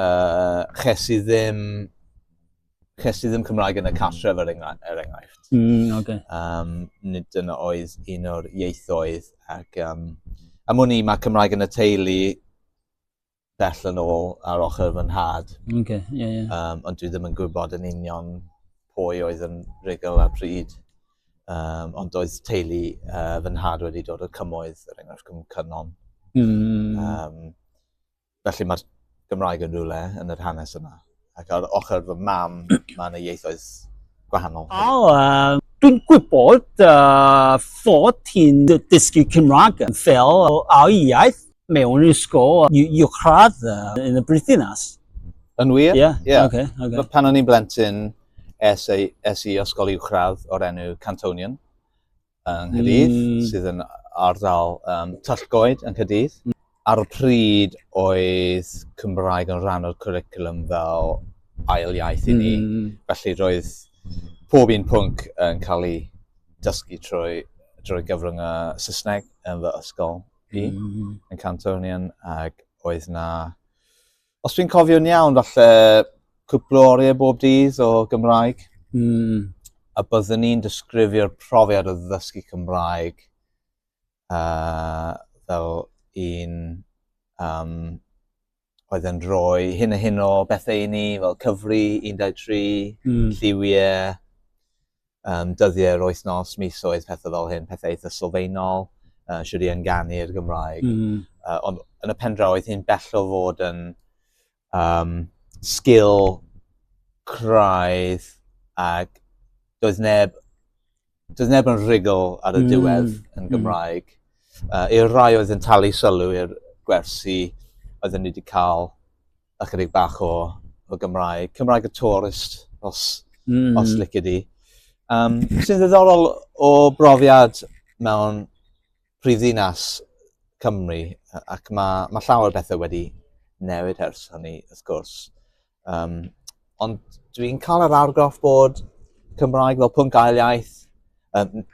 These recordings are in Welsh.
uh, ches i ddim ches i ddim Cymraeg yn y cartref er, enghra er enghraifft. Mm, okay. um, nid dyna oedd un o'r ieithoedd ac um, am wn i mae Cymraeg yn y teulu bell yn ôl ar ochr fy nhad. Okay, yeah, yeah. Um, ond dwi ddim yn gwybod yn union pwy oedd yn rigol ar pryd. Um, ond oedd teulu uh, fy nhad wedi dod o cymoedd, er enghraifft, cym cynon. Mm. Um, Felly mae'r Gymraeg yn rhywle yn yr hanes yma. Ac ar ochr fy mam, mae yna ieithoedd gwahanol. O, uh, dwi'n gwybod uh, fod ti'n dysgu Cymraeg fel ail iaith mewn ysgol uwchradd uh, yn y Brythynas. Yn wir? Ie. Yeah. Yeah. Okay, okay. Pan o'n i'n blentyn, es, es i ysgol uwchradd o'r enw Cantonian. yng Nghydydd, mm. sydd yn ardal um, Tyllgoed yng Nghydydd. Mm. Ar y pryd oedd Cymraeg yn rhan o'r curriculum fel ail iaith i ni. Mm. Felly roedd pob un pwnc yn cael ei dysgu trwy, drwy gyfrwng y Saesneg yn fy ysgol i, mm. yn Cantonian, ac oedd na Os fi'n cofio'n iawn, falle cwpl o oriau bob dydd o Gymraeg. Mm. A byddwn ni'n disgrifio'r profiad o ddysgu Cymraeg uh, fel un um, oedd yn rhoi hyn a hyn o bethau i ni, fel cyfri 13, mm. lliwiau, um, dyddiau'r wythnos, misoedd, pethau fel hyn, pethau eitha sylfaenol, uh, siwr i ynganu'r Gymraeg. Mm. Uh, ond yn y pen draw, oedd hi'n bello fod yn um, sgil craidd ac doedd neb, doedd neb yn rhugl ar y mm. diwedd mm. yn Gymraeg. Mm. Uh, i'r rai oedd yn talu sylw i'r gwersi oedd yn wedi cael ychydig bach o, o Gymraeg. Cymraeg y tourist, os, mm. os licid i. Um, sy'n ddiddorol o brofiad mewn prif ddinas Cymru, ac mae, mae llawer bethau wedi newid ers hynny, wrth gwrs. Um, ond dwi'n cael yr argraff bod Cymraeg fel pwnc ail iaith, um,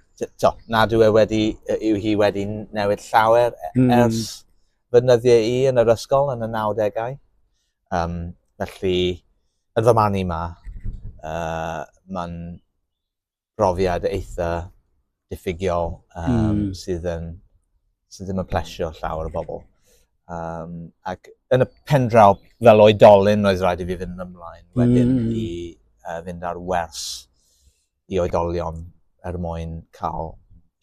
to, nad yw e wedi, yw hi wedi newid llawer e- hmm. ers, mm. fy nyddiau i yn yr ysgol yn y 90au. Um, felly, yn fy marn i ma, uh, mae'n brofiad eitha diffigiol um, mm. sydd, yn, sydd ddim yn plesio llawer o bobl. Um, ac yn y pen draw, fel oedolyn, roedd rhaid i fi fynd ymlaen wedyn mm. i uh, fynd ar wers i oedolion er mwyn cael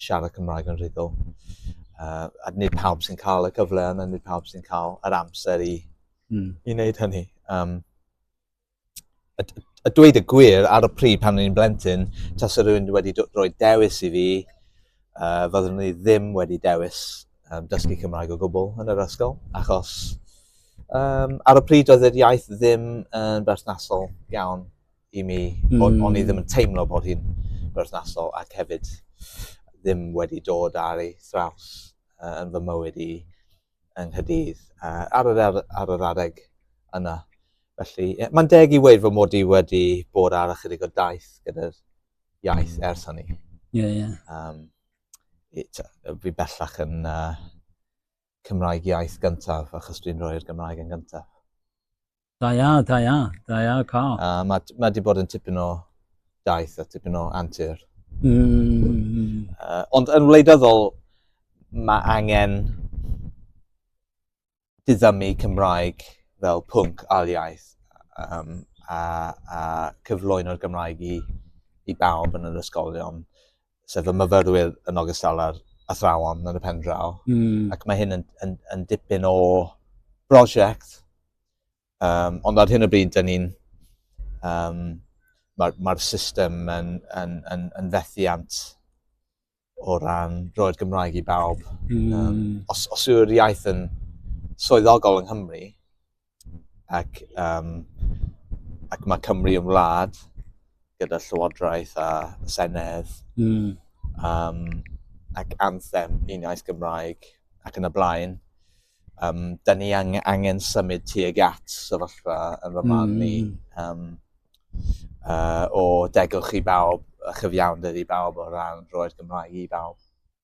siarad Cymraeg yn rhugl. Uh, a nid pawb sy'n cael y cyfle yna, nid pawb sy'n cael yr amser i, mm. i wneud hynny. Um, a, a dweud y gwir, ar y pryd pan o'n i'n blentyn, tas yr rhywun wedi rhoi dewis i fi, uh, fyddwn ni ddim wedi dewis um, dysgu Cymraeg o gwbl yn yr ysgol, achos um, ar y pryd oedd yr iaith ddim yn berthnasol iawn i mi. Mm. O'n, on i ddim yn teimlo bod hi'n berthnasol ac hefyd ddim wedi dod ar ei thraws uh, yn fy mywyd i yng Nghydydd uh, ar, yr, ar, ar yr adeg yna. Felly, yeah, mae'n deg i weid fy mod i wedi bod ar ychydig o daith gyda'r iaith mm. ers hynny. Ie, yeah, ie. Yeah. Um, fi bellach yn uh, Cymraeg iaith gyntaf, achos dwi'n rhoi'r Gymraeg yn gyntaf. Da ia, da ia, da ia, ca. A mae ma wedi bod yn tipyn o daith a tipyn o antur. Mm. Uh, ond yn wleidyddol, mae angen diddymu Cymraeg fel pwnc aliaeth um, a, a cyflwyno'r Gymraeg i, i bawb yn yr ysgolion. sef y myfyrwyr yn ogystal â'r athrawon yn y pen draw. Mm. Ac mae hyn yn, yn, yn dipyn o brosiect. Um, ond ar hyn o bryd, dyn ni'n... Um, Mae'r ma system yn, yn, yn, yn fethiant o ran roi'r Gymraeg i bawb. Mm. Um, os, os yw'r iaith yn swyddogol yng Nghymru, ac, um, ac mae Cymru yn wlad gyda llywodraeth a senedd mm. um, ac anthem un iaith Gymraeg ac yn y blaen. Um, da ni ang angen symud tuag at sefyllfa yn fy marn ni um, uh, o degwch i bawb a chyfiawnder i bawb o ran roi'r Gymraeg i bawb.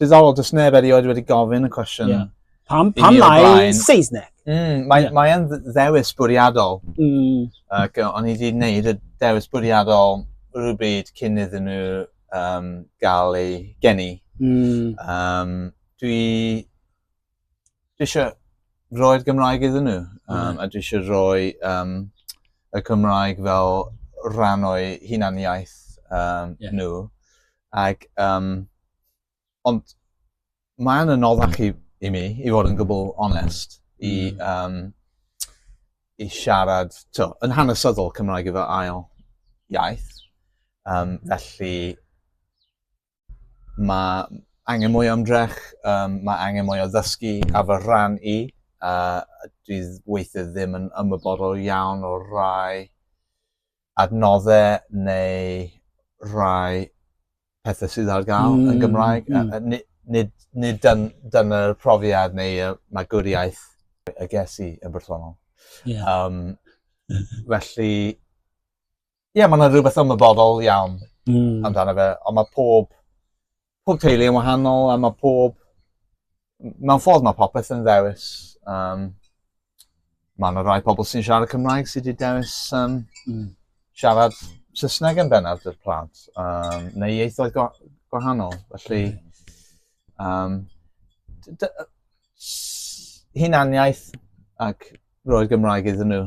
Diddorol, does neb erioed wedi gofyn y cwestiwn. Yeah. Pam, pam lai Saesneg? Mm, Mae'n yeah. mae ddewis bwriadol. Mm. Ac o'n i wedi gwneud y dewis bwriadol rhywbryd cyn iddyn nhw um, gael ei geni. Mm. Um, dwi dwi eisiau roi'r Gymraeg iddyn nhw. Um, mm. A dwi eisiau rhoi um, y Cymraeg fel rhan o'i hunaniaeth um, yeah. nhw. Ac, um, ond mae'n anoddach i, i mi, i fod yn gwbl onest, mm. i, um, i siarad, to, yn hanesyddol Cymraeg efo ail iaith. Um, felly, mae angen mwy o ymdrech, um, mae angen mwy o ddysgu a fy rhan i. Uh, dwi weithiau ddim yn ymwybodol iawn o rai adnoddau neu rai pethau sydd ar gael mm, yn Gymraeg. Mm. Uh, nid, nid, nid dyn, dyna'r profiad neu y magwriaeth y ges i yn bersonol. Yeah. Um, felly, ie ma' 'na rwbeth ymwybodol iawn... Hmm. ...amdano fe on' ma' pob pob teulu yn wahanol a ma' pob m- mewn ffordd ma' popeth yn ddewis yym ma' 'na rai pobol sy'n siarad Cymraeg sy 'di dewis yym... Hmm. ...siarad Sysneg yn bennaf 'dy'r plant yym neu ieithoedd gwa- gwahanol felly yym d- dy- yy s- hunaniaeth ac roi'r Gymraeg iddyn n'w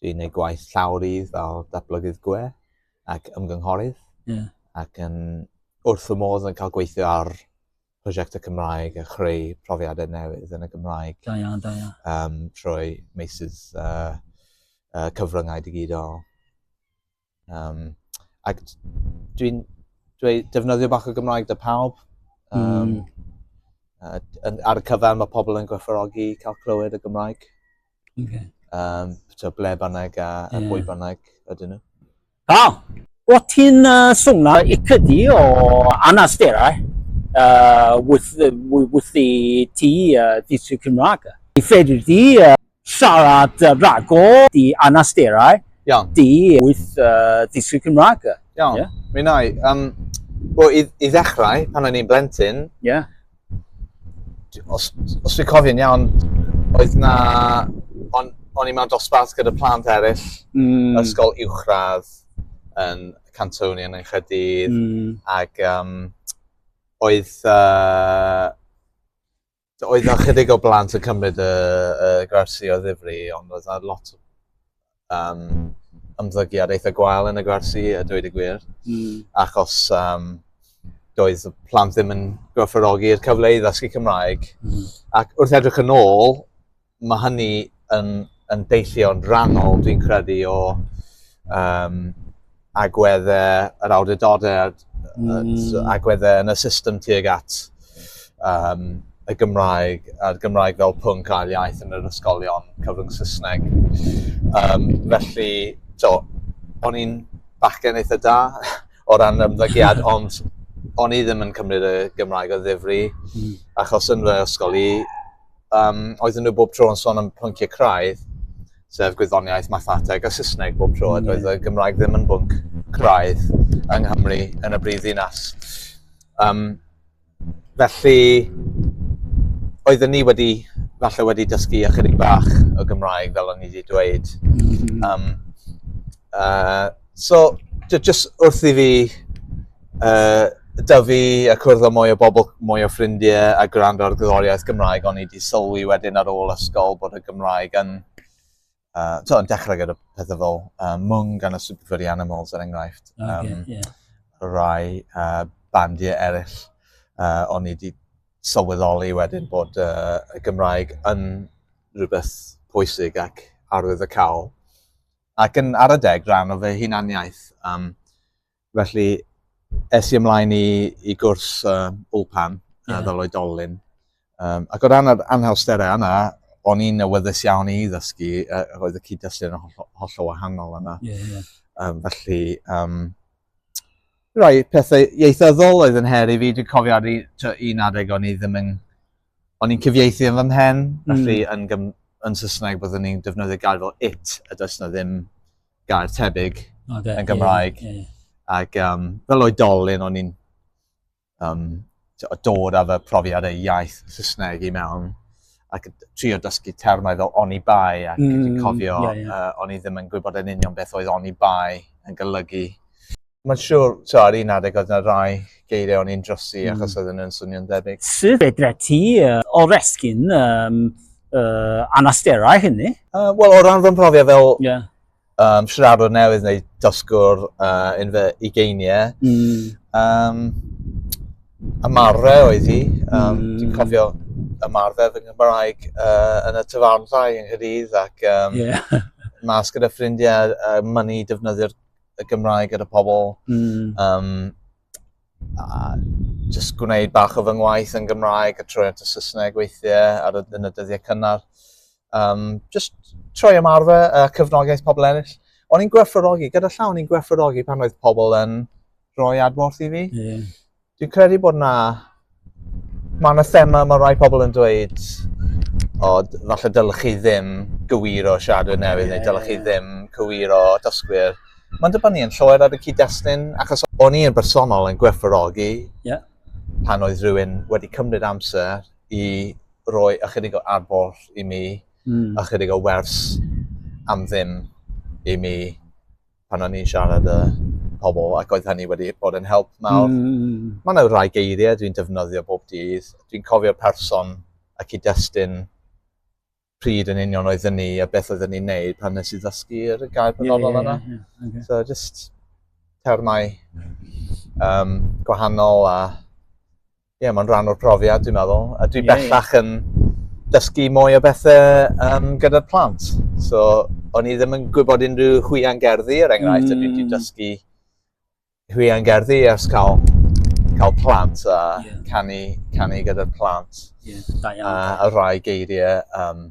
dwi'n gwneud gwaith llawrydd fel datblygydd gwe ac ymgynghorydd. Yeah. Ac yn wrth y modd yn cael gweithio ar prosiectau Cymraeg a chreu profiadau newydd yn y Gymraeg. Da iawn, da iawn. Um, trwy meysydd uh, uh, cyfryngau digidol. Um, ac dwi'n dwi defnyddio bach o Gymraeg dy pawb. Um, mm. ar y cyfan mae pobl yn gwerthfawrogi cael clywed y Gymraeg. Okay. Um, so ble bynnag a, yeah. a bwy bynnag ydyn nhw. Da! O ti'n uh, swnna i cydi o anasterau uh, with, with, with the tea, uh, tea Cymraeg. I fedr di uh, Siarad uh, rhagor di anasterau. Iawn. Di wyth uh, ddiswy Cymraeg. Iawn. Yeah. Mi nai. Um, well, i, i ddechrau, pan o'n i'n blentyn, yeah. os, os fi cofio'n iawn, oedd na... On, o'n i mewn dosbarth gyda plant eraill, mm. ysgol uwchradd yn Cantoni yn Enchedydd, mm. ac um, oedd... Uh, oedd yna chydig o blant yn cymryd y, y gwersi o ddifri, ond oedd yna lot o um, ymddygiad eitha gwael yn y gwersi, y dweud y gwir. Mm. Achos um, doedd y plant ddim yn gwerthfawrogi'r cyfle i ddysgu Cymraeg. Mm. Ac wrth edrych yn ôl, Mae hynny yn, yn deillio'n rhannol, dwi'n credu, o um, agweddau yr awdurdodau mm. agweddau yn y system tuag at um, y Gymraeg, a'r Gymraeg fel pwnc ail iaith yn yr ysgolion cyfrwng Saesneg. Um, felly, to, o'n i'n bachgen eitha da o ran ymddygiad, ond o'n i ddim yn cymryd y Gymraeg o ddifri, mm. achos yn fy ysgol i, um, oedden nhw bob tro yn sôn am pynciau craidd, sef gwyddoniaeth, mathateg a Saesneg bob tro, mm. oedd y Gymraeg ddim yn bwnc craidd yng Nghymru yn y brif ddinas. Um, felly, oedden ni wedi, falle wedi dysgu ychydig bach o Gymraeg, fel o'n i wedi dweud. Um, uh, So, jyst wrth i fi uh, dyfu a cwrdd â mwy o bobl, mwy o ffrindiau a gwrando ar gydoriaeth Gymraeg, o'n i wedi sylwi wedyn ar ôl ysgol bod y Gymraeg yn, uh, to, yn dechrau gyda pethau fel uh, mwng gan y Super Furry Animals er enghraifft. Um, okay, yeah. Rai uh, bandiau eraill, uh, o'n i wedi sylweddoli wedyn bod uh, y Gymraeg yn rhywbeth pwysig ac arwydd y cawl. Ac yn ar adeg rhan o fy hunaniaeth. Um, felly, es i ymlaen i, i gwrs uh, Ulpan yeah. fel oedolyn. Um, ac o ran yr anhawsterau yna, o'n i'n awyddus iawn i ddysgu, uh, roedd y cyd-destun yn holl, holl o wahanol yna. Yeah, yeah. Um, felly, um, rai pethau ieithyddol oedd yn her i fi. Dwi'n cofio ar un adeg o'n i ddim yn o'n i'n cyfieithu yn fy mhen, felly mm. yn, gym, yn Saesneg byddwn ni'n defnyddio gair fel it, a does yna ddim gair tebyg okay, yn Gymraeg. Yeah, yeah. Ac um, fel oedolyn, o'n i'n um, dod â fy profiad ei iaith Saesneg i mewn ac trio dysgu termau fel oni bai ac mm, cofio yeah, yeah. Uh, o'n i ddim yn gwybod yn union beth oedd oni bai yn golygu. Mae'n siŵr, ti'n ar un adeg oedd yna rai geiriau o'n i'n drosi mm. achos oedd nhw'n swnio'n debyg. Sut fedra ti uh, oresgyn um, uh, anasterau hynny? Uh, Wel, o ran fy mhrofiad fel yeah. um, siaradwr newydd neu dosgwr uh, yn fy ugeiniau, mm. um, ymarfer oedd hi. Um, mm. Dwi'n cofio ymarfer fy Nghymraeg uh, yn y tyfarnau yng Nghydydd ac um, yeah. mas gyda ffrindiau uh, mynnu defnyddio'r y Gymraeg gyda pobl. Mm. Um, a just gwneud bach o fy ngwaith yn Gymraeg a troi at y Saesneg weithiau ar y, yn y dyddiau cynnar. Um, just troi ymarfer a uh, cyfnogaeth pobl eraill. O'n i'n gwerthfawrogi, gyda llaw o'n i'n gwerthfawrogi pan oedd pobl yn rhoi adborth i fi. Yeah. Dwi'n credu bod na... Mae yna thema, mae rhai pobl yn dweud o, falle dylech chi ddim gywiro siadwyr newydd, neu dylech chi ddim cywiro dysgwyr. Mae'n dibynnu yn llwyr ar y cyd-destun, achos o'n i yn bersonol yn gwerthfawrogi yeah. pan oedd rhywun wedi cymryd amser i roi ychydig o arbol i mi, mm. ychydig o wers am ddim i mi, pan o'n i'n siarad y pobl ac oedd hynny wedi bod yn help mawr. Mm. Mae yna rhai geiriau dwi'n defnyddio bob dydd. Dwi'n cofio'r person y cyd-destun pryd yn union oedd ni a beth oedd ni'n neud pan nes i ddysgu'r gair penodol yeah, yna. Yeah, yeah, okay. So just termau um, gwahanol a yeah, mae'n rhan o'r profiad, dwi'n meddwl. A dwi yeah, bellach yeah. yn dysgu mwy o bethau um, gyda'r plant. So, o'n i ddim yn gwybod unrhyw hwyan gerddi, er enghraifft, mm. a dwi wedi mm. dysgu hwyan gerddi ers cael, cael plant a yeah. canu, canu gyda'r plant. Yeah, da iawn. A, a rhai geiriau um,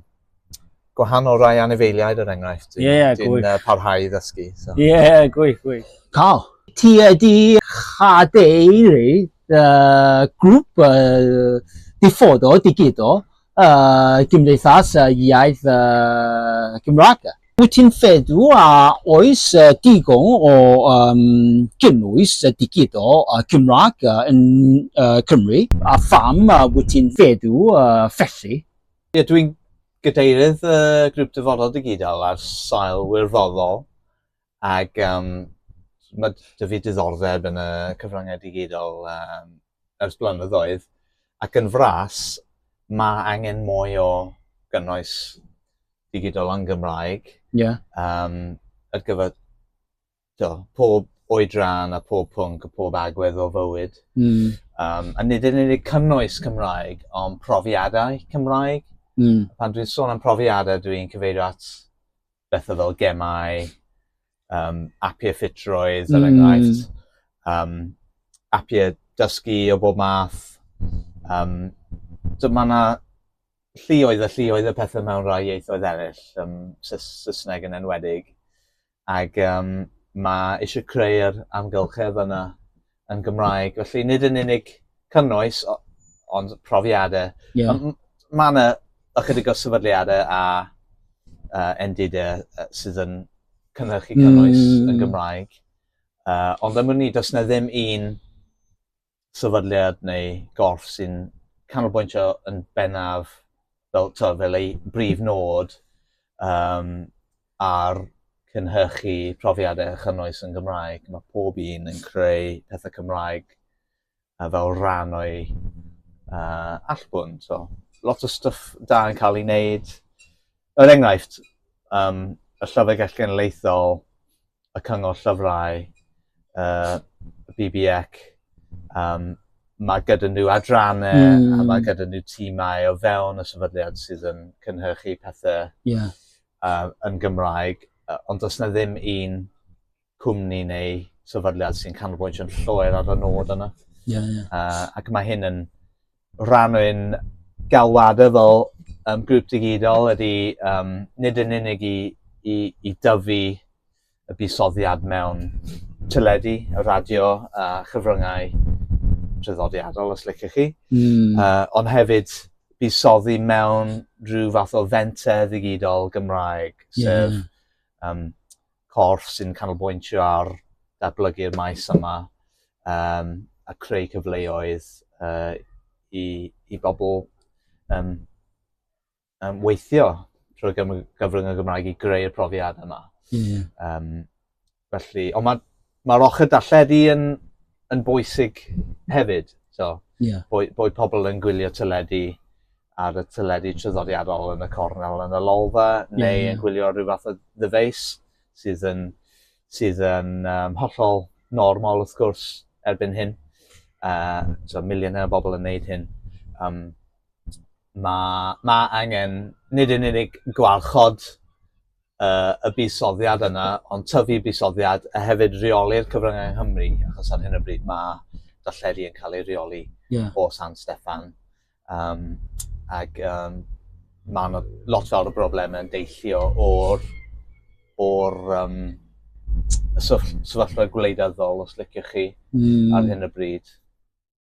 gwahanol rai anifeiliaid yr er enghraifft. Ie, yeah, gwych. Dwi'n uh, parhau i ddysgu. So. Ie, so. yeah, gwych, gwych. Cael. Ti ydi chadeiri uh, grŵp uh, diffodo, digido, uh, gymdeithas uh, iaith uh, Gymraeg. Wyt ti'n feddw a oes uh, digon o um, gynnwys uh, digido uh, Cymraeg uh, yn uh, Cymru? A pham uh, wyt ti'n feddw uh, felly? Ie, yeah, dwi'n gadeirydd y uh, grŵp dyfodol digidol ar sail wirfoddol ac um, mae dy fi diddordeb yn y cyfryngau digidol um, ers blynyddoedd ac yn fras mae angen mwy o gynnwys digidol yn Gymraeg yeah. um, ar gyfer to, pob oedran a pob pwnc a pob agwedd o fywyd. Mm. Um, a nid yn unig cynnwys Cymraeg, ond profiadau Cymraeg. Mm. Pan dwi'n sôn am profiadau, dwi'n cyfeirio at bethau fel gemau, um, apiau ffitrwydd, er mm. enghraifft, um, apiau dysgu o bob math. Um, so mae yna llioedd a llioedd y pethau mewn rhai ieithoedd eraill, um, Saesneg yn enwedig. Ac yym mae eisiau creu'r amgylchedd yna yn Gymraeg. Felly nid yn unig cynnwys, ond profiadau. Yeah. Mae yna ychydig o sefydliadau a uh, endidau uh, sydd yn cynhyrchu cynnwys mm. yn Gymraeg. Uh, ond am wn i, does na ddim un sefydliad neu gorff sy'n canolbwyntio yn bennaf fel t'o' fel ei brif nod yym ar cynhyrchu profiade a chynnwys yn Gymraeg ma' pob un yn creu pethe Cymraeg yy fel rhan o'i yy allbwn so lot o stwff da yn ca'l 'i neud Er enghraifft, um, y Llyfrgell Genedlaethol, y Cyngor Llyfrau, uh, BBEC, um, mae gyda nhw adrannau mm. a hmm. mae gyda nhw tîmau o fewn y sefydliad sydd yn cynhyrchu pethau yeah. uh, yn Gymraeg, uh, ond does na ddim un cwmni neu sefydliad sy'n canolbwyntio yn llwyr ar y nod yna. Yeah, yeah. Uh, ac mae hyn yn rhan o'n galwadau fel um, grŵp digidol ydy um, nid yn unig i, i, i dyfu y busoddiad mewn teledu, y radio a chyfryngau traddodiadol, os liciwch chi, mm. uh, ond hefyd busoddi mewn rhyw fath o fenter ddigidol Gymraeg, sef yeah. um, corff sy'n canolbwyntio ar datblygu'r maes yma um, a creu cyfleoedd uh, i, i bobl um, um, weithio trwy gyfrwng y Gymraeg i greu'r profiad yma. Yeah. Um, felly, ond mae Mae'r ochr darlledu yn, yn bwysig hefyd. So, yeah. bod, bod pobl yn gwylio teledu ar y teledu tryddodiadol yn y cornel yn y lolfa, neu yeah, yeah. yn gwylio rhyw fath o ddyfeis sydd yn, sydd yn um, hollol normal wrth gwrs erbyn hyn. Uh, so, miliynau o bobl yn neud hyn. Um, mae ma angen nid yn unig gwarchod uh, y buddsoddiad yna, ond tyfu buddsoddiad a hefyd reoli'r cyfryngau yng Nghymru, achos ar hyn o bryd mae darlledu yn cael ei reoli yeah. o San Steffan. Um, ac um, mae yna lot fawr o broblemau yn deillio o'r, or, um, sefyllfa gwleidyddol, os liciwch chi, mm. ar hyn o bryd.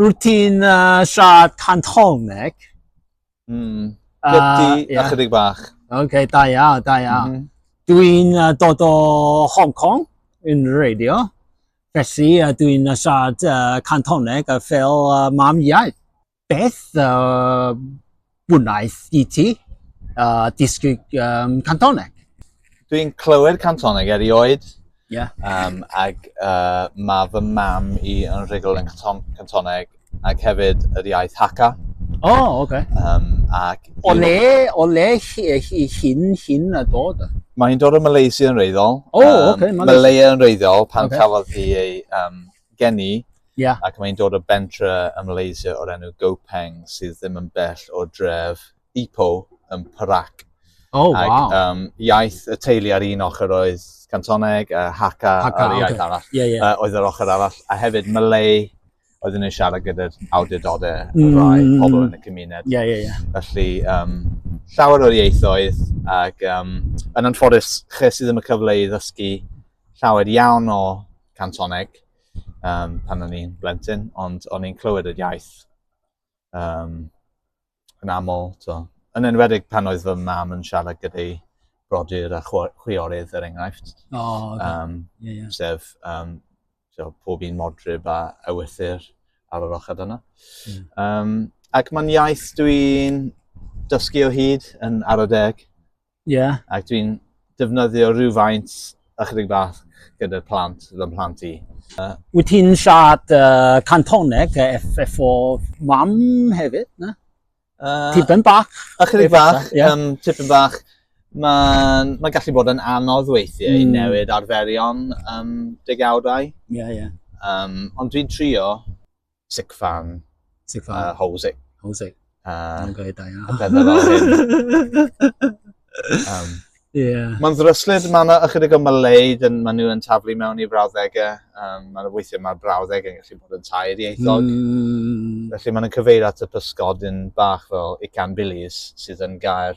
Rwyt ti'n uh, siarad Cantoneg? Mm. Gydi uh, yeah. ychydig bach. Oce, okay, da ia, da ia. Mm -hmm. Dwi'n uh, dod o Hong Kong yn radio. Felly uh, dwi'n uh, siarad uh, Cantoneg a fel uh, mam iaith. Beth uh, Wnaeth E.T. Uh, dysgu um, Cantoneg. Dwi'n clywed Cantoneg erioed. Yeah. Um, ac uh, mae fy mam i yn rhugl yn Cantoneg ac hefyd yr iaith Haka. O, oh, oce. Okay. Um, ac... O le, o le hyn, hyn a dod? Mae'n dod o Malaysia yn reiddiol. O, oh, um, oce. Okay, Malaysia yn reiddiol pan okay. cafodd hi ei um, gen i, yeah. ac mae'n dod o bentre ym Malaysia o'r enw Gopeng sydd ddim yn bell o dref Ipoh yn Perak. Oh, ac, wow. Um, iaith y teulu ar un ochr oedd Cantoneg, a Haka, Haka a'r iaith okay. arall, yeah, yeah. Uh, oedd yr ochr arall, a hefyd Malay, oedden nhw'n siarad gyda'r awdurdodau mm. y rai pobl yn y cymuned. Yeah, yeah, yeah. Felly, um, llawer o'r ieithoedd, ac um, yn anffodus, chi sydd ddim yn cyfle i ddysgu llawer iawn o cantoneg um, pan o'n i'n blentyn, ond o'n i'n clywed yr iaith um, yn aml. So, yn enwedig pan oedd fy mam yn siarad gyda'i brodyr a chwiorydd er enghraifft. O, oh, okay. um, yeah, yeah. Sef um, so, pob un modryb a ewythyr ar yr ochr yna. Mm. Um, ac mae'n iaith dwi'n dysgu o hyd yn arodeg. Ie. Ac dwi'n defnyddio rhywfaint ychydig bach gyda'r plant, fy mhlant i. Uh, Wyt ti'n siarad uh, Cantoneg efo mam hefyd, na? Uh, tipyn bach. Ychydig bach, yeah. um, tipyn bach. Mae'n ma gallu bod yn anodd weithiau mm. i newid arferion um, degawdau. Ie, yeah, ie. Yeah. Um, ond dwi'n trio Sick Fan. Sick Fan. Uh, Hosey. Hosey. Uh, Mae'n gael da iawn. um, yeah. Mae'n ddryslyd, mae yna ychydig o Maleid yn maen nhw yn taflu mewn i frawddegau. Um, mae'n weithio mae'r brawddeg yn gallu bod yn tair ieithog. Mm. Felly mae'n cyfeir at y pysgodyn bach fel Ican Billies sydd yn gair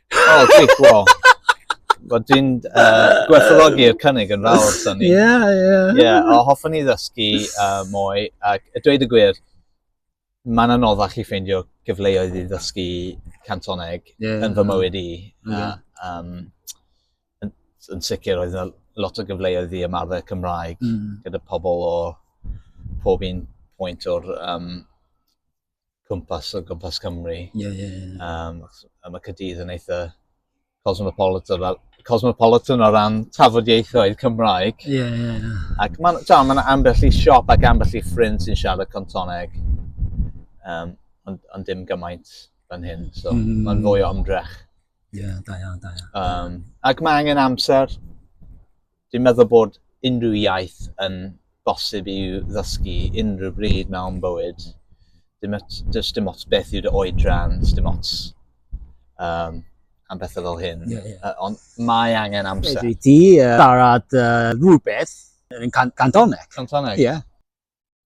Oh, gwych, wow. Wel, dwi'n uh, gwerthologi'r cynnig yn fawr, Sonny. Ie, yeah, ie. Yeah. yeah, o hoffwn i ddysgu uh, mwy, ac y dweud y gwir, mae'n anoddach i ffeindio gyfleoedd i ddysgu cantoneg yeah, yn fy mywyd i. Yeah. Uh, um, yn, yn sicr, oedd yna lot o gyfleoedd i ymarfer Cymraeg mm. gyda pobl o pob un pwynt o'r um, cwmpas o gwmpas Cymru. Ie, ie, ie. Um, a mae Cydydd yn eitha cosmopolitan, cosmopolitan o ran tafodieithoedd Cymraeg. Ie, yeah, ie, yeah, ie. Yeah. Ac mae'n ma, ma ambell i siop ac ambell i ffrind sy'n siarad contoneg, um, ond, on dim gymaint fan hyn, so mm. -hmm. mae'n fwy o ymdrech. Ie, yeah, da iawn, da iawn. Um, ac mae angen amser, Dwi'n meddwl bod unrhyw iaith yn bosib i'w ddysgu unrhyw bryd mewn bywyd. Dim ots, does dim ots beth yw dy oedran, does dim ots um, am bethau fel hyn. Yeah, yeah. Uh, ond mae angen amser. Dwi ti uh, siarad uh, rhywbeth yn can Cantoneg. Cantoneg? Ie. Yeah.